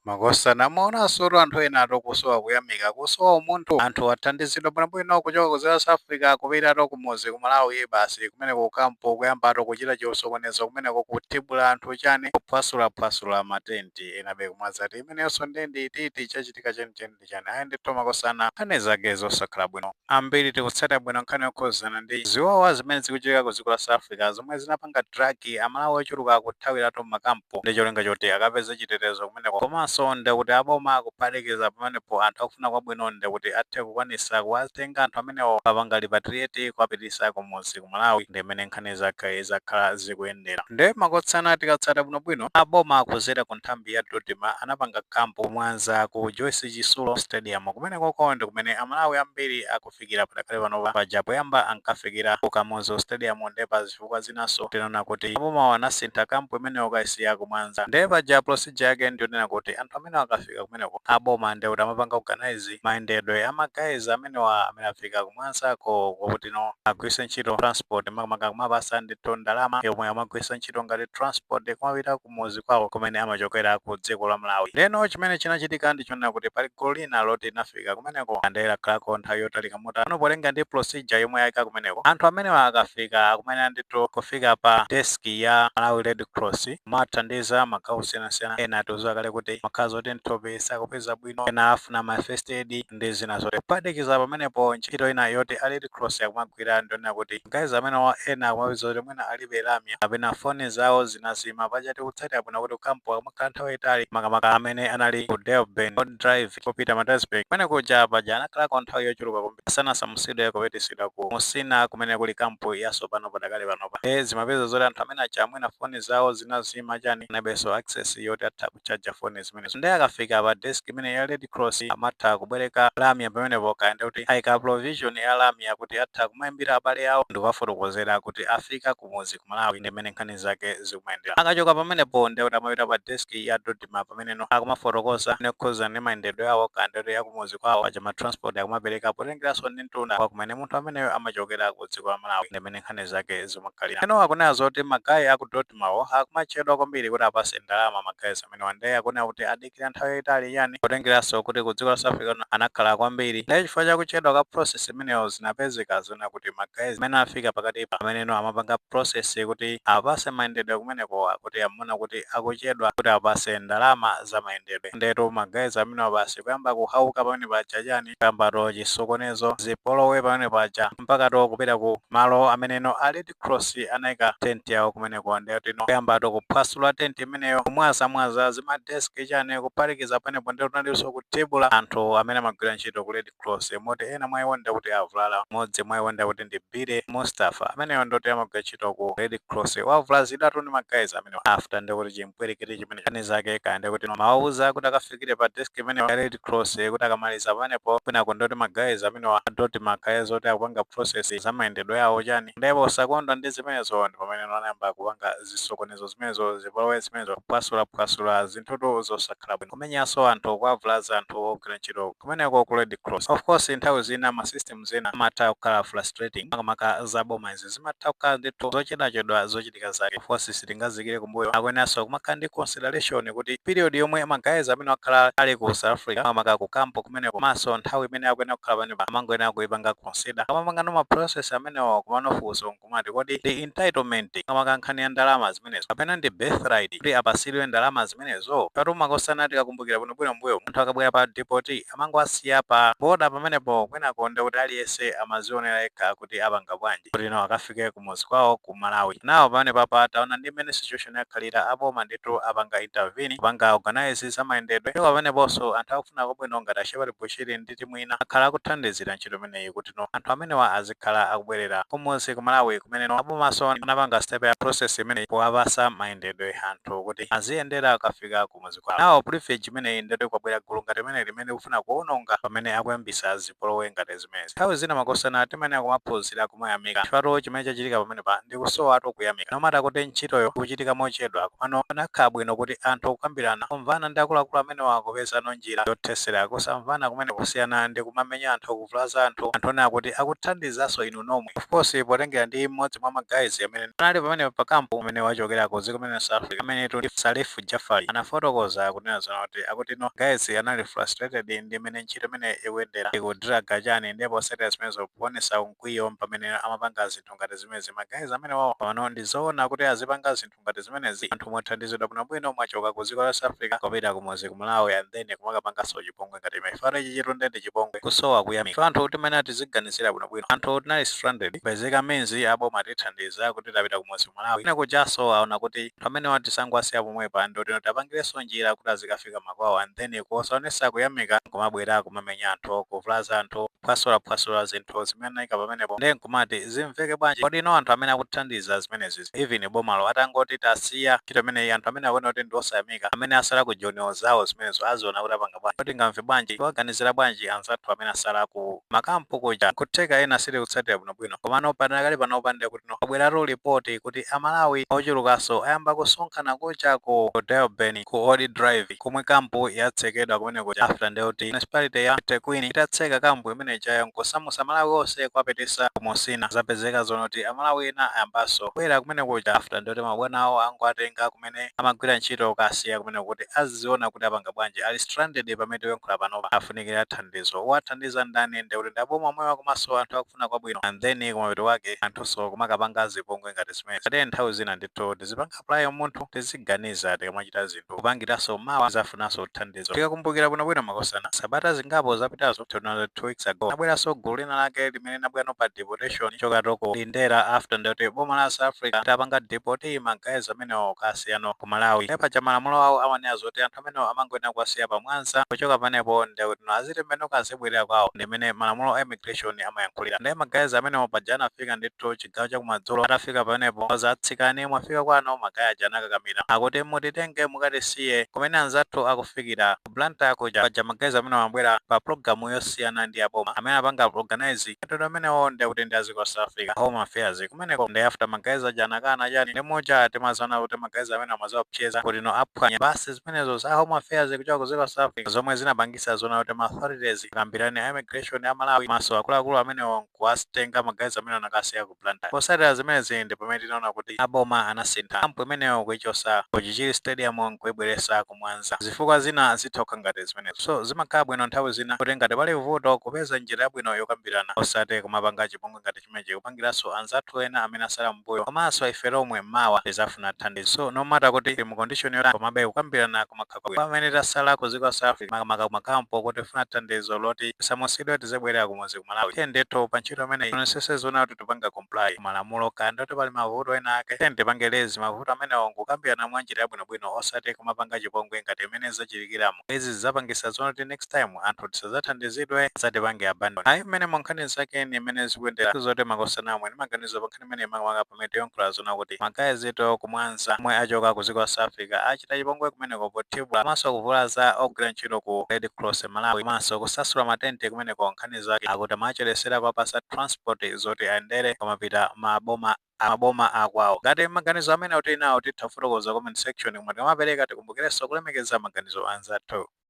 Makosana, mwaonansotu anthu enatu kusowa kuyamika, kusowa umunthu. Anthu athandizidwa bwinobwino kuchoka ku South Africa kupitatu kumudzi ku Malawi basi kumeneko ku camp kuyambatu kuchita chisokonezo kumeneko kuthibula anthu chani, kuphwasulaphwasula ma tent enabe kumwazatu imeneyonso ndende iti iti chachitika chenicheni. ndi chani ayi ndithu makosana nkhani zake zosakhala bwino ambiri tikutsata bwino nkhani yokhuzana ndi ziwawa zimene zikuchitika ku dziko la south africa zomwe zinapanga drag amalawi ochuluka akuthawiratu mmakampu ndi cholinga choti akapeze chitetezo kumeneko komanso ndekuti aboma akuphatikiza pamenepo anthu akufuna kwabwino ndekuti athe kukwanitsa kuwatenga anthu amenewo kuwapanga repatriate kuwapititsa kumuzi ku Malawi nde mmene nkhani zake zakhala zikuyendera. Nde makosana tikatsata bwinobwino, a boma kudzera ku nthambi ya Dodma anapanga camp ku Mwanza ku Joyce Chitsulo Stadium. Kumenekoko ndi kumene a Malawi ambiri akufikira padakali panopa. Paja poyamba ankafikira ku Kamuzu Stadium nde pa zifukwa zinanso tinaona kuti abomawa anasintha camp imeneyo kukayisiya ku Mwanza. Nde paja procedure yake ndi yonena kuti anthu amene akafika. akafika kumeneko aboma nde kuti amapanga organise mayendedwe a ma guys amenewa amene afika ku Mwanzako kwakuti no agwiritse ntchito transport makamaka kuwapatsa ndithu ndalama yomwe amagwiritsa ntchito ngati transport kumapita kumuzi kwawo kumene amachokera ku dziko la malawi ndeno chimene chinachitika ndi chonena kuti pali gulu lina loti linafika kumeneko ande lakhalako nthawi yotalika motero polinga ndi procedure yomwe ayika kumeneko anthu amenewa akafika akumayenera ndithu kufika pa desk ya malawi red cross amathandiza magawo osiyanasiyana ena tikudziwa kale kuti amakhala zoti mthupi sakupeza bwino ena afuna ma first aid ndi zina zotero kuphatikiza pamenepo ntchito ina yoti a red cross akumagwira ndi yonena kuti guys amenewa ena akumapezeka kuti mwina alibe lamya kapena foni zawo zinazima paja tikutsata bwino kuti ku kampu amakhala nthawi yayitali makamaka amene anali ku Durban drive Mozambique kupita Maritzburg kumene kuja paja anakhalako nthawi yochuluka kwambiri asanasamutsidwe kupititsidwa ku Musina kumene kuli kampu yasopano padakali panopa nde zimapezeka zoti anthu amenewaja mwina foni zawo zinazima chani analibenso access yoti atha kuchaja foni zimenezo nde akafika pa desk imeneyi ya Red Cross amatha kubwereka lamya pamenepo kaya ndekuti aika provision ya lamya kuti atha kumaimbira abale awo ndikuwafotokozera kuti afika ku kumudzi ku Malawi ndi mmene nkhani zake zikumayendera. Akachoka pamenepo ndiye kuti amapita pa desk ya Dodma pamene no akumafotokoza nkhani yokhudzana ndi mayendedwe awo kaya ndiye kuti akumudzi kwawo paja ma transport akumapereka potengeranso ndi mtunda wa kumene munthu ameneyo amachokera ku dziko la Malawi ndi mmene nkhani zake zimakhalira. Eno akunena zoti magayi a ku Dodmawo akumachedwa kwambiri kuti apatse ndalama magayi amenewa ndiye akunena kuti adikira nthawi yayitali chani potengeranso kuti ku dziko la South Africa kuno anakhala kwambiri ndiye chifukwa cha kuchedwa kwa process imeneyo zinapezeka zonena kuti ma guys amene afika pakatipa amene no amapanga process kuti apatse mayendedwe kumeneko akuti amaona kuti akuchedwa kuti apatse ndalama za mayendedwe ndetu ma guys amenewa basi kuyamba kuhauka pamene paja chani kuyambatu chisokonezo zipolowe pamene paja mpakatu kupita ku malo amene no ali Cross anaika tent yawo kumeneko ndiye kuti no kuyambatu kuphwasula tent imeneyo kumwazamwaza zima desk chani kuphatikiza panepo ndiye kunalinso kutibula anthu amene amagwira ntchito ku Red Cross moti ena mwa iwo ndiye kuti avulala modzi mwa iwo ndiye kuti ndi Billy Mustafa ameneyo ndoti amagwira ntchito ku Red Cross wavulazidwatu ndi ma guys amenewa after ndiye kuti chimpwirikiti chimene chani zake kaya ndiye kuti mawauza kuti akafika akafikire pa desk imene ya red cross kuti akamaliza pamenepo kwinako ndoti ma guys amenewa ndoti makhala zoti akupanga process za mayendedwe awo chani ndipo posakondwa ndi zimenezo ndi pamene anayamba kupanga zisokonezo zimenezo zipolowe zimenezo kuphwasulaphwasula zinthutu zosakhala bwino kumenyanso anthu kuwavulaza anthu ogwira ntchito kumeneko ku red cross of course nthawi zina ma system ena amatha kukhala frustrating makamaka za boma izi zimatha kukhala ndithu zochedwachedwa zochita zochitika zake of course sitingaziikire kumbuyo. Akuyeneranso kumakhala ndi consideration kuti period yomwe ma guys amenewa akhala ali ku South Africa makamaka ku camp kumeneko komanso nthawi imene akuyenera kukhala pamenepa amangoyenera kuipanga consider. Akamapangano ma process amenewo komano funso nkumati kodi ndi entitlement makamaka nkhani ya ndalama zimenezo kapena ndi birthright kuti apatsidwe ndalama zimenezo? Paja tu makosana tikakumbukira bwinobwino m'mbuyomu munthu akabwera pa deportee amangowasiya pa boda pamenepo kwinako nde kuti aliyese amazionera yekha kuti apanga bwanji kuti no akafike kumuzi kwawo ku Malawi. Nawo pamenepapa taona ndi mmene situation yakhalira aboma ndithu apanga intervene kupanga organise za mayendedwe ndipo pameneponso anthu akufuna kwabwino ngati a Shepherd Bushiri ndi timu ina akhala akuthandizira ntchito imeneyi kuti no anthu amenewa azikhala akubwerera kumuzi ku Malawi kumeneno abomanso anapanga step ya process imeneyi powapasa mayendedwe anthu kuti aziyendera akafika kumuzi kwawo. Nawo privilege imeneyi ndiyoti kwabwera gulu ngati limeneli limene likufuna kuononga pamene akuyambisa zipolowe ngati zimenezi. Nthawi zina makosana timayenera kumaphunzira kumayamika chifukwatu chimene chachitika pamenepa ndi kusowatu kuyamika. No matter kuti ntchitoyo ikuchitika mochedwa komano zikanakhala bwino kuti anthu kukambirana, kumvana ndi akuluakulu amenewa kupezano njira yothesera kusamvana kumeneku kusiyana ndi kumamenya anthu, kuvulaza anthu, anthu onena kuti akuthandizaso inu nomwe of course potengera ndi mmodzi mwa ma guys amene anali pamenepa pa camp amenewa achokera ku dziko limene la South Africa amenetu ndi Salif Jafali anafotokoza kunena zonena kuti akuti no guys anali frustrated ndi mmene ntchito imeneyo ikuyendera ikudraga chani nde posatira zimenezo powonesa mkwiyo mpamene amapanga zinthu ngati zimezi ma guys amenewo pano ndi zoona kuti azipanga zinthu ngati zimenezi anthu mwathandizidwa bwinobwino mwachoka ku dziko la South Africa kupita kumudzi ku Malawi and then kumakapangaso chipongwe ngati chimenechi chifukwa ichichitu nde ndi chipongwe kusowa kuyamika chifukwa anthu timayenera tiziganizira bwinobwino anthu tinali stranded kupezeka means aboma atithandiza kuti tapita kumudzi ku Malawi kwina kujaso aona kuti Amenewa tisangowasiya pomwepa ndoti tapangileso njira kuti azikafika makwawo and then kusaonesa kuyamika nkumabwera kumamenya anthu, kuvulaza anthu, kuphwasula phwasula zinthu zimene anaika pamenepo nde nkumati zimveke bwanji kodi no anthu amene akuthandiza zimenezizi even bomalo atangoti tasiya ntchito imeneyi anthu amene akuona kuti ndi osayamika amene asala ku joniwo zawo zimenezo aziona kuti apanga bwanji kodi tingamve bwanji tiwaganizira bwanji anzathu amene asala ku ma camp kuja nkutheka ena sitikutsatira bwinobwino komano padakali panopa ndekut kuno kwabweratu report kuti amalawi ochulukaso ayamba kusonkhana kuja ku Durban ku old drive komwe camp yatsekedwa kumene kuja after nde kuti municipality ya Thekwini itatseka camp imene ijayo nkusamusa amalawi ose kuwapitisa ku Musina zapezeka zoona kuti amalawi ena ayambaso kubwera kumene kuja after nde kuti mabwana awo angowatenga kumene amagwira ntchito kukasiya kumene kuti aziziona kuti apanga bwanji ali stranded pamene tikuyankhula panopa afunikira thandizo owathandiza ndani nde kuti ndi aboma omwewa komaso anthu aku kufuna kwabwino and then kumapeto kwake anthunso kumakapanga zipongwe ngati zimenezi. Tate nthawi zina ndithu tizipanga apply umunthu, tiziganiza tikamachita zinthu, kupangiranso mawa tizafunanso thandizo. Tikakumbukira bwinobwino makosana, sabata zingapo zapitazo, 2 weeks ago, linabweranso gulu lina lake limene linabwerano pa deportation kuchokatu ku Lindela after nde kuti boma la South Africa litapanga deport ma guys amenewo kukasiyano ku Malawi. Ndiye paja malamulo awo amanena zoti anthu amenewo amangoyenera kuwasiya pa Mwanza, kuchoka pamenepo nde kuti no azitembenuka azibwelera kwawo ndi mmene malamulo a immigration amayankhulira. Nde ma guys amenewo paja anafika ndithu chigawo cha kumadzulo, atafika pamenepo awauza tsikani mwafika kwanu, ma guy aja anakakamira akuti mutitenge mukatisiye kumene anzathu akufikira, ku Blantyre kuja. Paja ma guys amenewo amabwera pa pulogalamu yosiyana ndi a boma, amene anapanga organise. Mayendedwe amenewo nde kuti ndi a ziko South Africa, Home Affairs, kumeneko nde after ma guys aja anakana chani nde muja timaziona kuti ma guys amenewo amaziopsyeza kuti no aphwanya basi zimenezo za Home Affairs kuchoka ku ziko South Africa zomwe zinapangisa zoona kuti ma authorities akambirane a immigration a Malawi komanso akuluakulu amenewo nkuwatenga ma guys amenewo nakasiya ku Blantyre. Potsatira zimenezi ndi pamene tinaona kuti a boma anasintha camp imeneyo kuichotsa ku Chichiri stadium nkuibweretsa ku Mwanza. Zifukwa zina zitha kukhala ngati zimenezo. So zimakhala bwino nthawi zina kuti ngati pali vuto kupeza njira yabwino yokambirana osati kumapanga chipongwe ngati chimenechi kupangiranso anzathu ena amene atsala mmbuyo komanso ife tomwe mawa tizafuna thandizo. So no matter kuti tili mu condition yotani komabe kukambirana kumakhala Kwa amene tasala ku ziko la South Africa makamaka kuma camp ko tifuna thandizo loti tisamusidwe tizibwelera kumudzi ku Malawi tiyeni ndithu pa ntchito imeneyi tionesese zoona kuti tikupanga comply malamulo kaya ndoti pali mavuto ena ake tiyeni tipange raise mavuto amenewo nkukambirana mwa njira yabwinobwino osati kumapanga chipongwe ngati mmene zachitikiramu izi zizapangisa zoona kuti next time anthu tisazathandizidwe asatipange abandon ayi mmenemo nkhani zake ni mmene zikuyendera zoti makosana amwe ni maganizo pa nkhani imeneyi makamaka pamene tiyankhula zona kuti ma guys tu ku Mwanza omwe achoka ku dziko la South Africa achita chipongwe kumeneko pothibula komanso kuvulaza ogwira ntchito ku Red Cross Malawi komanso kusasula matenti kumeneko nkhani zake akuti amachedwetsera kuwapasa transport zoti ayendere kumapita maboma akwawo ngati maganizo amene tili nawo titha kufotokoza comment section koma tikamapereka tikumbukirenso kulemekeza maganizo a anzathu